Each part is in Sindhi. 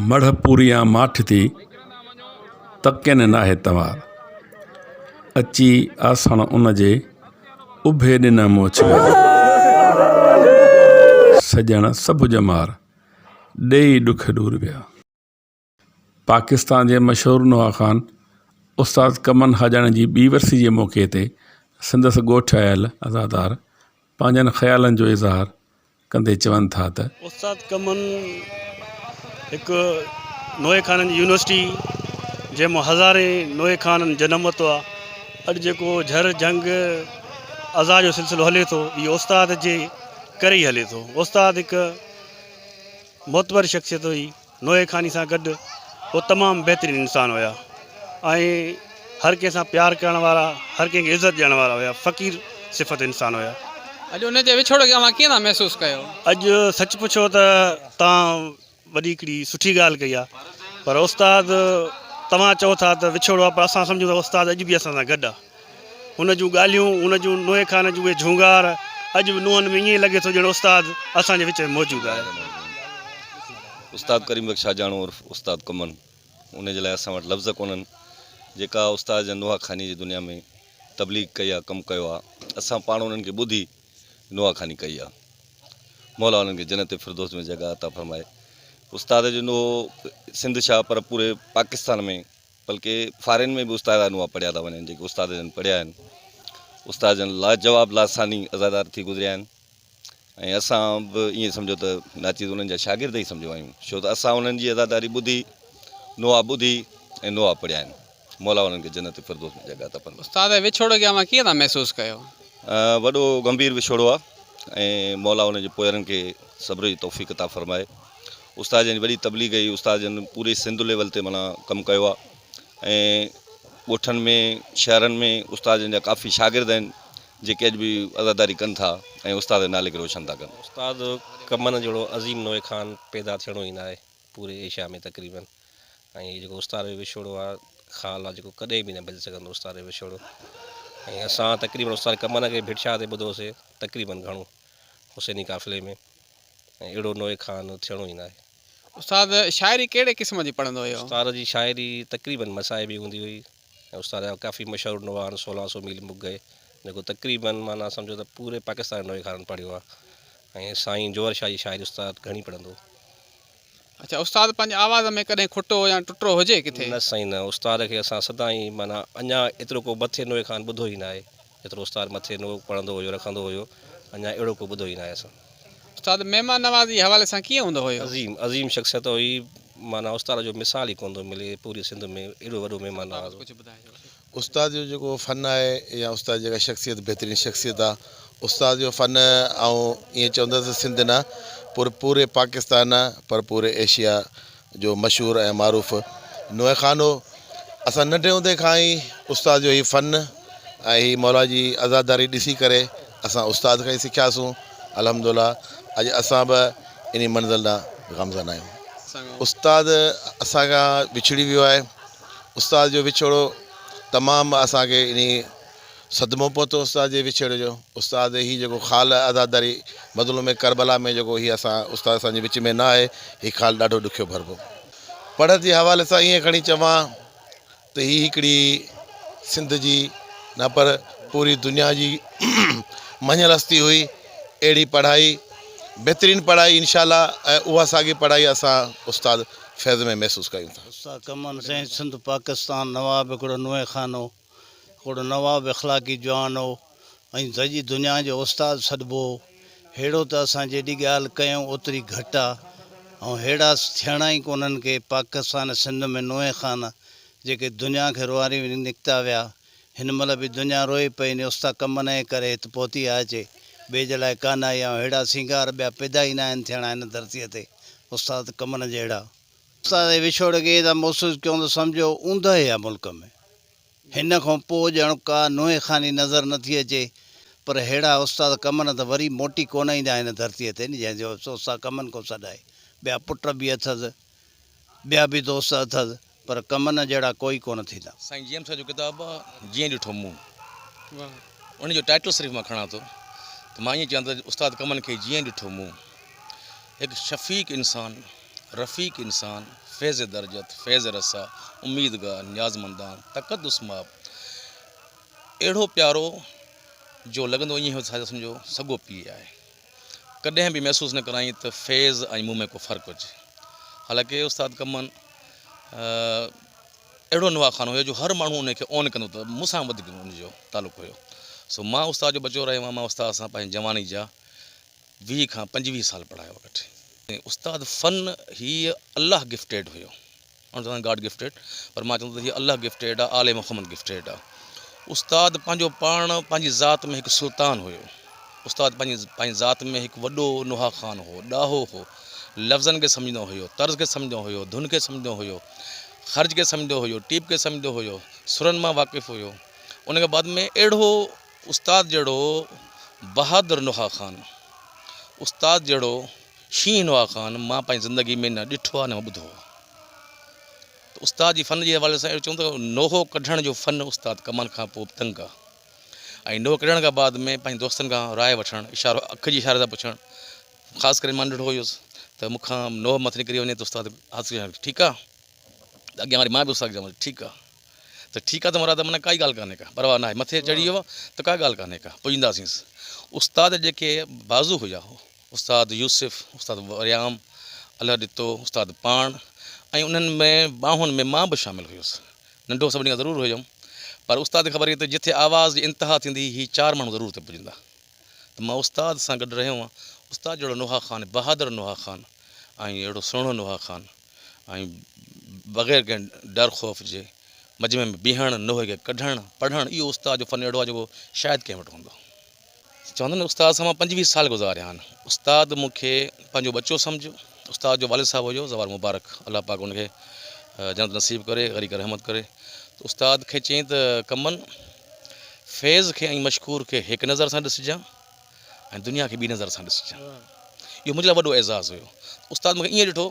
مڙهه پوريان ماٺ ٿي، تڪين ناهي تنوار، اچي آسڻ ان جي، اڀي ڏنئه مون اڇلار. سڄڻ سڀ ڄمار، ڏيئي ڏک ڏور ويا. پاڪستان جي مشهور نوحه خان استاد ڪمن حاجاڻي جي ٻي ورسي جي موقعي تي سندس ڳوٺ آيل عزادار پنهنجن خيالن جو اظهار ڪندي چون ٿا ته. استاد ڪمن هڪ نوحه خانن جي يونيورسٽي جنهن مان هزارين نوحه خانن جنم ورتو آهي. اڄ جيڪو جھر، جهنگ، عزا جو سلسلو هلي ٿو اهو استاد جي ڪري ئي هلي ٿو. استاد هڪ معتبر شخصيت هئي. نوحي خاني سان گڏ هو تمام بهترين انسان هيا ۽ هر ڪنهن سان پيار ڪرڻ وارا هر ڪنهن کي عزت ڏيڻ وارا هيا فقير صفت انسان هيا. اڄ انهن جي وڇوڙ کي اوهان ڪيئن ٿا محسوس ڪيو؟ اڄ سچ پڇو ته توهان وڏي هڪڙي سٺي ڳالهه ڪئي آ پر استاد توهان چئو ٿا ته وڇوڙو آ پر اسان سمجهون ٿا استاد اڄ به اسان سان گڏ آ. هن جون ڳالهيون، هن جون نوحي خان جون اهي جهونگار، اڄ به نونهن ۾ ائين لڳي ٿو ڄڻ استاد اسان جي وچ ۾ موجود آهي. استاد ڪريم بخش شاهجهاڻو عرف استاد ڪمن انهي جي لاء اسان وٽ لفظ ڪونهن جيڪا استاد جن نوحا خاني جي دنيا ۾ تبليغ ڪئي آ ڪم ڪيو آ اسان پاڻ انهن کي ٻڌي نوحا خاني ڪئي آ مولا انهن کي جنت فردوس ۾ جڳهه عطا فرمائي استاد جو نوحو سنڌ شاهه پر پوري پاڪستان ۾ بلڪه فارين ۾ به استاد نواب پڙهيا ٿا وڃن جيڪي استاد جن پڙهيا آهن استاد جن لاجواب لاثاني عزادار ٿي گذريا آهن ۽ اسان به ائين سمجهو ته ناچيز انهن جا شاگرد ئي سمجهو آهيون ڇو ته اسان انهن جي عزاداري ٻڌي نواب ٻڌي ۽ نواب پڙهيا آهن مولا انهن کي جنت فردوس ۾ جڳهه عطا فرمائي استاد جي وڇوڙي کي اوهان ڪيئن ٿا محسوس ڪيو؟ وڏو گنڀير وڇوڙو آهي ۽ مولا انهن جي پوئرن کي صبر جي توفيق عطا فرمائي. استاد جن جي وڏي تبليغ هئي استاد جن پوري سنڌ ليول تي معنيٰ ڪم ڪيو آهي ۽ ڳوٺن ۾ شهرن ۾ استاد جن جا ڪافي شاگرد آهن جيڪي اڄ به عزاداري ڪن ٿا ۽ استاد جي نالي کي روشن ٿا ڪن. استاد ڪمن جهڙو عظيم نوحي خان پيدا ٿيڻو ئي ناهي پوري ايشيا ۾ تقريبن ۽ هي جيڪو استاد جو وڇوڙو آهي خال آهي جيڪو ڪڏهن به نه ڀڄي سگهندو استاد جو وڇوڙو ۽ اسان تقريبن استاد ڪمن کي ڀٽ شاهه تي ٻڌوسي تقريبن گهڻو حسيني قافلي ۾ ۽ اهڙو نوحي خان ٿيڻو ئي ناهي. استاد شاعري ڪهڙي قسم جي پڙهندو هيو؟ استاد جي شاعري تقريبن مصائبي هوندي هئي ۽ استاد جا ڪافي مشهور نوحان سولهان سو ميل مک گئي جيڪو تقريبن معنيٰ سمجهو ته پوري پاڪستان جي نوحي خانن پڙهيو آهي ۽ سائين جوهر شاهه جي شاعري استاد گهڻي پڙهندو هو. اڇا استاد پنهنجي آواز ۾ ڪڏهن کٽو يا ٽٽرو هجي ڪٿي؟ نه سائين نه، استاد کي اسان سدائين معنيٰ اڃان ايترو ڪو مٿي نوحي خان ٻڌو ئي ناهي. ايترو استاد مٿي نو پڙهندو هيو رکندو هيو اڃا اهڙو ڪو ٻڌو ئي ناهي اسان. استاد مهمان نوازي حوالي سان ڪيئن هوندو هيو؟ عظيم عظيم شخصيت هئي معنيٰ استاد جو مثال ئي ڪونه ٿو ملي پوري سنڌ ۾ ايڏو وڏو مهمان نواز هو. استاد جو جيڪو فن آهي يا استاد جي جيڪا شخصيت بهترين شخصيت آ استاد جو فن آئون ائين چوندس سنڌ نه پر پوري پاڪستان نه پر پوري ايشيا جو مشهور ۽ معروف نوحه خانو اسان ننڍي هوندي کان ئي استاد جو هي فن ۽ هي مولا جي عزاداري ڏسي ڪري اسان استاد کان ئي سکياسون الحمد الله اڄ اسان به انهي منزل ڏانهن گامزن آهيون استاد اسان کان وڇڙي ويو آهي استاد جو وڇوڙو تمام اسان کي انهي صدمو پهتو استاد جي وڇيڙ جو. استاد هي جيڪو خال عزاداري مظلوم ڪربلا ۾ جيڪو هي اسان استاد اسان جي وچ ۾ نه آهي هي خال ڏاڍو ڏکيو ڀربو. پڙهه جي حوالي سان ائين کڻي چوان ته هي هڪڙي سنڌ جي نه پر پوري دنيا جي مڃيل هستي هئي اهڙي پڙهائي بهترين پڙهائي انشاء الله ۽ اها ساڳي پڙهائي اسان استاد فيض ۾ محسوس ڪيون ٿا. استاد ڪمند سائين سنڌ پاڪستان نواب هڪڙو نوحي خانو. ڪوڙ نواب اخلاقي جوان هو ۽ دڄي دنيا جو استاد سڏبو هو. ههڙو ته اسان جيڏي ڳالهه ڪيون اوتري گهٽ آ ۽ ههڙا ٿيڻا ئي ڪونهن ڪي پاڪستان سنڌ ۾ نوحي خان جيڪي دنيا کي روئاري وڃي نڪتا ويا هن مهل به دنيا روئي پئي ني استا ڪم نئي ڪري هت پهتي آ اچي ٻيج لاء ڪانه آئي آ ههڙا سينگار ٻيا پيدا ئي ناهن ٿيڻا هن ڌرتي تي استاد ڪم نه جهڙا. اسان سان وڇوڙ کي ادا محسوس ڪيون ته سمجهو اوندهه آ ملڪ ۾. هن کان پوء ڄڻ ڪا نونهين خاني نظر نه ٿي اچي. پر ههڙا استاد ڪمن ته وري موٽي ڪونه ايندا هن ڌرتيء تي نه جنهن جو افسوس سا ڪمن کان سڏائي. ٻيا پٽ به اٿس. ٻيا به دوست اٿس. پر ڪمن جهڙا ڪوئي ڪونه ٿيندا. سائين جي ايم صاحب جو ڪتاب آ جيئن ڏٺو مون ان جو ٽائيٽل صرف مان کڻان ٿو ته مان ائين چوان ٿو ته استاد ڪمن کي جيئن ڏٺو مون هڪ شفيق انسان. رفيق انسان، فيض درجت، فيض رسا، اميدگار، نيازمندان، تقدس ماب، اهڙو پيارو جو لڳندو ائين هو ته سمجهو سڳو پيء آهي. ڪڏهن به محسوس نه ڪرايائين ته فيض ۽ مون ۾ ڪو فرق هجي. حالانڪه استاد ڪمن اهڙو نواخانو هيو جو هر ماڻهو انهي کي اون ڪندو ته مون سان وڌيڪ ان جو تعلق هيو. سو مان استاد جو ٻچو رهيو هوم مان استاد سان پنهنجي جواني جا ويهه کان پنجويهه سال پڙهايو وٺي استاد فن هي الله گفٽيڊ هيو ان سان گاڊ گفٽيڊ پر مان چوندو هي الله گفٽيڊ آ آل محمد گفٽيڊ آ استاد پنهنجو پاڻ پنهنجي ذات ۾ هڪ سلطان هيو استاد پنهنجي پنهنجي ذات ۾ هڪ وڏو نوها خان هو ڏاهو هو لفظن کي سمجهندو هيو طرز کي سمجهندو هيو ڌن کي سمجهندو هيو خرچ کي سمجهندو هيو ٽيپ کي سمجهندو هيو سرن مان واقف هيو ان کان بعد ۾ اهڙو استاد جهڙو بهادر نوحه خان استاد جهڙو شينهن نوحه خان مان پنهنجي زندگي ۾ نه ڏٺو آهي نه ٻڌو آهي ته استاد جي فن جي حوالي سان اهڙو چون ته نوحو ڪڍڻ جو فن استاد ڪمال کان پوء به تنگ آهي ۽ نوحو ڪڍڻ کان بعد ۾ پنهنجي دوستن کان راء وٺڻ اشارو اک جي اشاري سان پڇڻ خاص ڪري مان ننڍڙو هيس ته مون کان نوحو مٿي نڪري وڃي ته استاد حاصل ٺيڪ آهي ته اڳيان واري مان به استاد ٺيڪ آهي ته ٺيڪ آ ته مراد معنيٰ ڪائي ڳالهه ڪانهي ڪا پرواهه ناهي مٿي چڙهي ويو آهي ته ڪا ڳالهه ڪانهي ڪا پڄنداسينس استاد جيڪي بازو هيا استاد يوسف استاد وريام الهه ڏتو استاد پاڻ ۽ انهن ۾ ٻانهن ۾ مان به شامل هيس ننڍو سڀني کان ضرور هيم پر استاد کي خبر هئي ته جتي آواز جي انتها ٿيندي هي چار ماڻهو ضرور اتي پڄندا ته مان استاد سان گڏ رهيو هئان. استاد جهڙو نوحه خان، بهادر نوحه خان ۽ اهڙو سهڻو نوحه خان ۽ بغير ڪنهن ڊر خوف جي مجمعي ۾ بيهڻ، نوحي کي ڪڍڻ، پڙهڻ، اهو استاد جو فن اهڙو آهي جيڪو شايد ڪنهن وٽ هوندو. چون ٿا نه استاد سان مان پنجويهه سال گذاريا آهن. استاد مون کي پنهنجو ٻچو سمجهيو. استاد جو والد صاحب هيو زوال مبارڪ، الله پاڪ ان کي جنت نصيب ڪري، غريق رحمت ڪري. ته استاد کي چيائين ته ڪمن! فيض کي ۽ مشڪور کي هڪ نظر سان ڏسجان ۽ دنيا کي ٻي نظر سان ڏسجان اهو منهنجي لاء وڏو اعزاز هيو استاد مونکي ائين ڏٺو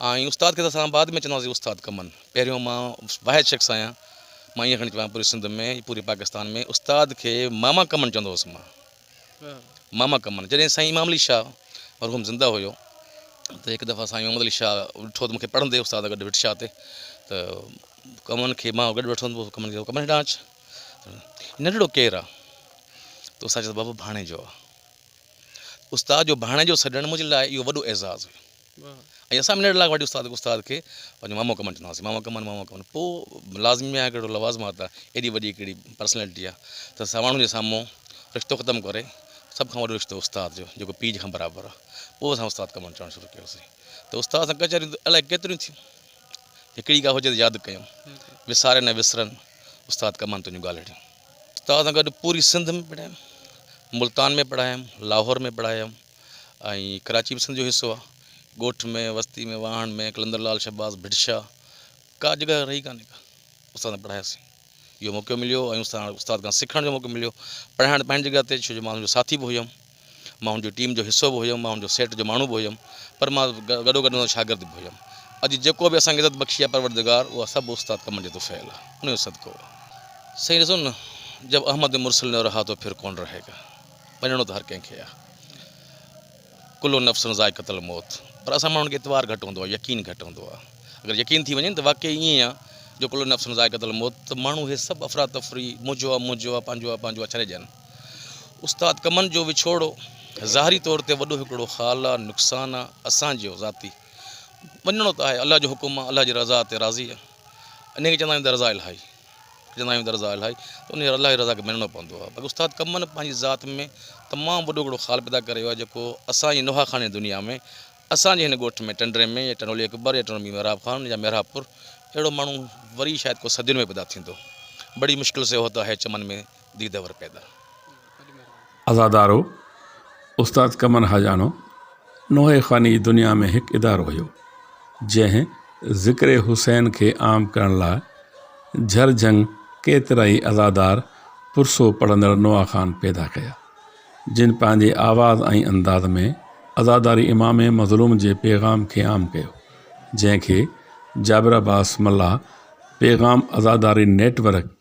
۽ استاد کي ته اسان بعد ۾ چونداسين استاد ڪمن پهريون مان واحد شخص آهيان مان ائين کڻي چوان پوري سنڌ ۾ پوري پاڪستان ۾ استاد کي ماما ڪمن چوندو هوس مان ماما ڪمن جڏهن سائين امام علي شاهه مرحوم زنده هيو ته هڪ دفعا سائين محمد علي شاهه ڏٺو ته مون کي پڙهندي استاد گڏ وٽ شاهه تي ته ڪمن کي مان گڏ وٺندو هوس ڪمن کي ڪمن هيڏانهن اچ ننڍڙو ڪير آ ته استاد چيو بابا ڀاڻيجو آ استاد جو ڀاڻيجو سڏڻ منهنجي لاء اهو وڏو اعزاز هيو ۽ اسان به نيڙ لاڳ واٽي استاد استاد کي پنهنجو مامو ڪمن چوندا هئاسين مامو ڪمن مامو ڪمن پوء لازمي ميان ڪهڙو لوازمات آ ايڏي وڏي ڪهڙي پرسنالٽي آ ته اسان ماڻهن جي سامهون رشتو ختم ڪري سڀ کان وڏو رشتو استاد جو جيڪو پيء جي کان برابر آ پوء اسان استاد ڪمن چوڻ شروع ڪيوسين ته استاد سان ڪچهريون الاء ڪيتريون ٿيون هڪڙي ڳالهه هجي ته ياد ڪيون وساري نه وسرن استاد ڪمن تنهنجون ڳالهڙيون استاد سان گڏ پوري سنڌ ۾ پڙهايم ملتان ۾ پڙهايم لاهور ۾ پڙهايم ۽ ڪراچي به سنڌ جو حصو آ. ڳوٺ ۾ وستي ۾ واهڻ ۾ قلندر لال شھباز ڀٽ شاھ ڪا جڳهه رهي ڪانهي ڪا استاد سان پڙهاياسين اهو موقعو مليو ۽ استاد استاد کان سکڻ جو موقعو مليو پڙهائڻ ته پنهنجي جڳهه تي ڇو جو مان هن جو ساٿي به هيم مان هن جي ٽيم جو حصو به هيم مان هن جو سيٽ جو ماڻهو به هيم پر مان گڏو گڏ هن شاگرد به هيم اڄ جيڪو به اسان کي عزت بخشي آ پروردگار اها سڀ استاد ڪمن جي طفيل آ ان جو صدقو آ سائين ڏسو نه جب احمد مرسل نه رها تو پھر ڪون رهيگا. مڃڻو ته هر ڪنهن کي آ ڪل نفس ذائقة الموت پر اسان ماڻهن کي اعتبار گهٽ هوندو آ يقين گهٽ هوندو آ اگر يقين ٿي وڃي ته واقعي ائين آ جو ڪل نفس ذائقة الموت ته ماڻهو هي سڀ افرا تفري منهنجو آ منهنجو آ پنهنجو آ پنهنجو آ ڇڏي ڏين استاد ڪمن جو وڇوڙو ظاهري طور تي وڏو هڪڙو خال آ نقصان آ اسان جو ذاتي مڃڻو ته آهي الله جو حڪم آ الله جي رضا تي راضي آ انهي کي چوندا آهيون ته رضا الهي. جڏهن آيون درزا الائي ته انهيء الله جي رضا کي مڃڻو پوندو آهي. باقي استاد ڪمن پنهنجي ذات ۾ تمام وڏو هڪڙو خال پيدا ڪري ويو آهي جيڪو اسان جي نوحاخاني دنيا ۾ اسان جي هن ڳوٺ ۾ ٽنڊري ۾ يا ٽنڊولي اڪبر يا ٽنڊومير محراب خان يا محرابپور اهڙو ماڻهو وري شايد ڪو صدين ۾ پيدا ٿيندو بڙي مشڪل سي هوتا هي چمن ۾ دي دور پيدا. عزادارو، استاد قمر حاجاڻو، نوحي خواني جي دنيا ۾ هڪ ادارو هيو، جنهن ذڪر حسين کي عام ڪرڻ لاء جهر جهنگ ڪيترائي عزادار پرسو پڙهندڙ نوحا خوان پيدا ڪيا، جن پنهنجي آواز ۽ انداز ۾ عزاداري امام مظلوم جي پيغام کي عام ڪيو، جنهن کي جابر عباس ملاح پيغام عزاداري نيٽ ورڪ